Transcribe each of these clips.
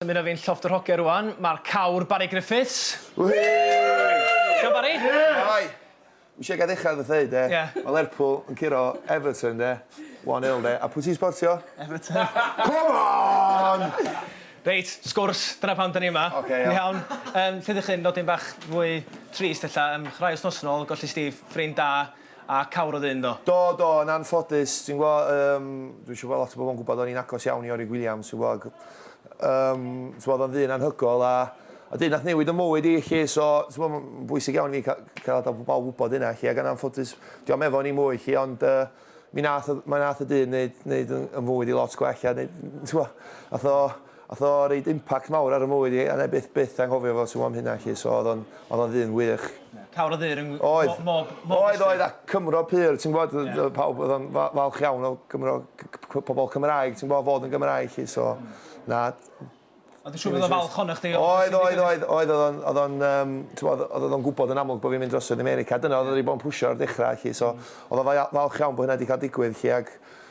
Dymuno fi'n llofft yr hogia rwan, mae'r cawr Barry Griffiths. Iawn Barry? Shwmae! Dwi ishe gael dechra efo ddeud de, mae Lerpwl yn curo Everton de, 1-0 de, a pwy ti'n sbortio? Everton. Come on! Reit, sgwrs, dyna pam 'da ni yma. Ocê iawn. Iawn? Yym, lle dych chi'n nodyn bach fwy trist ella, yym chwrai wsnos yn ôl, golli Steve, ffrind da, A cawr oedd e ynddo? Do, do, yn anffodus. Ti'n gwbo, yym, dwi isio bod lot o bobl yn gwbod o'n i'n agos iawn i Orig Williams, ti'n gwbo, ac, yym, ti'n gwbo, oedd o'n ddyn anhygoel, a, a dyn nath newid 'y mywyd i, 'lly, so, ti'n gwbo, ma'n bwysig iawn i fi ca- cael adal pobl wbod hynna, 'lly, ac yn anffodus, dyw o'm efo ni mwy, 'lly, ond, yy, mi nath y, mi nath y dyn neud, neud 'y mywyd i lot gwell, a neud, ti'n gwbo, nath o, Ath o reid impact mawr ar fy mywyd i a na'i byth byth anghofio fo t'mo am hynna 'lly so o'dd o'n o'dd o'n ddyn wych. Cawr o ddur yng Ngwm Oedd. Mo- mob mob district. Oedd oedd a Cymro pur ti'n gwbod yy yy pawb o'dd o'n fa- falch iawn o Gymro c- c- p- pobol Cymraeg ti'n gwbo fod yn Gymraeg 'lly so na t- Ond dwi'n siŵr bod o'n falch ohonoch chdi o Oedd oedd oedd oedd o'dd o'n o'dd o'n yym t'mod o'dd o'dd o'n gwbod yn amlwg bo' fi'n mynd drosodd i America dyna o'dd o 'di bo' yn pwsio o'r dechra 'lly so o'dd o fa- ia- falch iawn bo' hynna 'di ca'l digwydd 'lly ag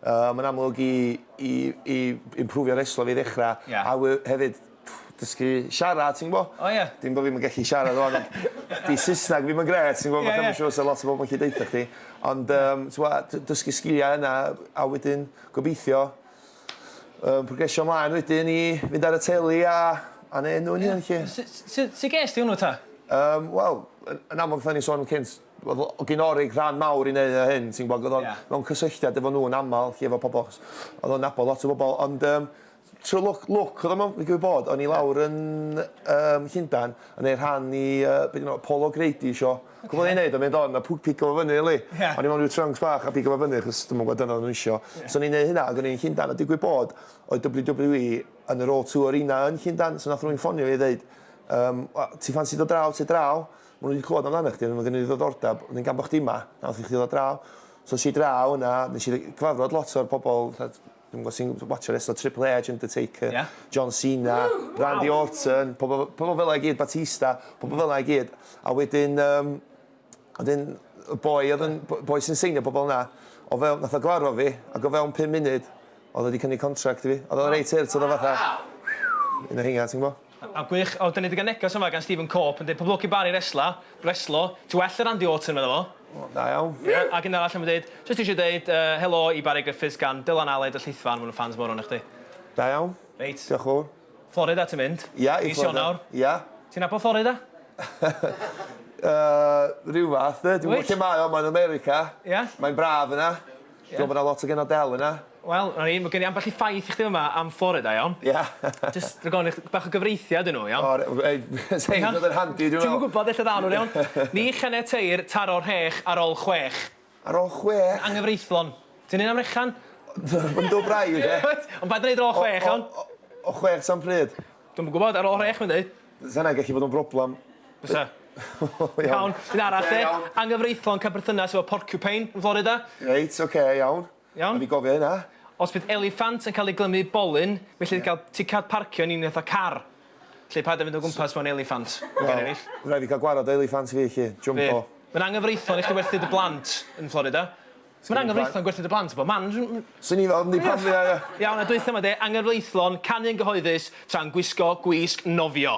Yy mae'n amlwg i i i imprwfio reslo fi ddechrau... Ie. ...a we- hefyd dysgu siarad ti'n gwbo? O ie. Dim bo' fi'm yn gallu siarad ŵan ond 'di Saesneg fi'm yn grêt ti'n gwbo fatha ma' siŵr 'sa lot o bobol yn gallu deutha chdi ond yym t'mo' d- dysgu sgilia yna a wedyn gobeithio yym progresio mlaen wedyn i fynd ar y teli a a neu' enw 'yn hun 'lly. Su- su- su- su' ges di hwnnw ta? Yym wel yn yn amlwg fel o'n i'n sôn yn cynt Oedd gyn Oric ran mawr i wneud â hyn, ti'n gwybod, ac oedd o'n mewn cysylltiad efo nhw yn aml, felly efo pobl, achos oedd o'n nabod lot o bobl, ond yym trwy lwc, lwc oedd o mewn, fi'n gwybod bod, o'n i lawr yn um, Llundain yn ei rhan i, uh, beth yna, Paul O'Grady isio, okay. gwybod ei wneud, o'n i'n dod, na pwg pigo fo fyny, li, yeah. o'n i mewn rhyw trunks bach a pigo fo fyny, chos dwi'n gwybod dyna nhw isio, yeah. so o'n i'n neud hynna, ac o'n i'n Llundain, a digwydd bod, oedd WWE yn yr O2 Arena yn Llundain, so nath rwy'n ffonio i ddeud, um, ti ffansi dod draw, ti draw, Maen nhw 'di clywed amdanach chdi, ma' gen nhw ddiddordeb, wedyn gan bo' chdi 'ma, nath i chdi ddod draw. So es i draw yna, nes i gyfarfod lot o'r pobol fatha t- dwi'm yn gwbo' ti'n watsio restlo Triple Aitch, Undertaker... Ia. ...John Cena... Ww! Waw! ...Randy Orton, pobol f- pobol fela i gyd, Batista, pobol fela i gyd. A wedyn yym wedyn y boi o'dd yn b- boi sy'n seinio pobol 'na, o fewn nath o gyfarfod fi, ag o fewn pum munud o'dd o 'di cynnig contract i fi. O'dd o reit hurt, o'dd o fatha... Waw! ...un o rheina ti'n gwbo? O gwych. O 'da ni 'di ga'l neges yma gan Stephen Cope yn deud pob lwc i Barry resla, reslo, ti well na Randy Orton medda fo. O da iawn. Ie ag un arall yn deud jyst isio deud yy helo i Barry Griffiths gan Dylan Aled y Llithfaen ma' nw'n ffans mor o o'noch chdi. Da iawn. Reit. Dioch fowr. Florida ti'n mynd. Ia i Florida. Mis Ionawr. Ia. Ti'n nabod Florida? Yy ryw fath 'de. Wyt? Dwi'm yn gwbo lle mae o mae'n America. Ia? Mae'n braf yna. Dwi me'wl bo' 'na lot o genod del yna. Wel, 'na ni, ma' gen i ambell i ffaith i chdi fama am Florida, iawn? Ia. Jyst rhag ofn i chdi bach o gyfreithiad i n'w, iawn? O re- ei sa hyn 'di bod yn handi dwi me'wl. Ti'm yn gwbod ella ddaw n'w, iawn? Ni chaniateir taro rhech ar ol chwech. Ar ol chwech? Angyfreithlon. Ti'n neud am rechan? Ma'n do braidd, ie. Wyt? Ond paid â neud ar ol chwech, iawn? O chwech tan pryd? Dwi'm yn gwbod, ar ol rhech mae'n deud. Fysa hynna'n gallu bod yn broblem. Bysa. Iawn. Un arall de. Anghyfreithlon cael perthynas efo porcupine yn Florida. Reit, ocê, iawn. Iawn? O'n i'n gofio hynna. Os bydd eliffant yn cael ei glymu i bolyn, felly yeah. gael ticad parcio yn un eitha car. Lle paid a fynd o gwmpas mewn eliffant. Well, rhaid fi cael gwarad o eliffant fi, chi. Jumbo. Mae'n anghyfreithlon i chdi werthu dy blant yn Florida. Ma'n anghyfreithlon gwerthu dy blant bob man. Swn i'n ofn dim pan fydda i... Iawn a dwytha 'ma de, anghyfreithlon canu yn gyhoeddus tra'n gwisgo gwisg nofio.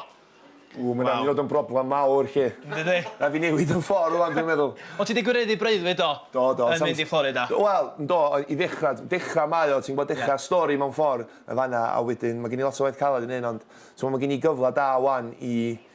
Ww ma'n myn' i fod yn broblam mawr 'lly. Yndi. Rai' fi newid yn ffor rŵan dwi'n meddwl. O' ti 'di gwireddu breuddwyd do? Do do. Yn mynd i Florida. Wel yndo i ddechra dechra mae o ti'n gwbod dechra stori mewn ffor yn fan 'na a wedyn ma' gen i lot o waith caled i neud ond t'mo' ma' gen i gyfla da ŵan i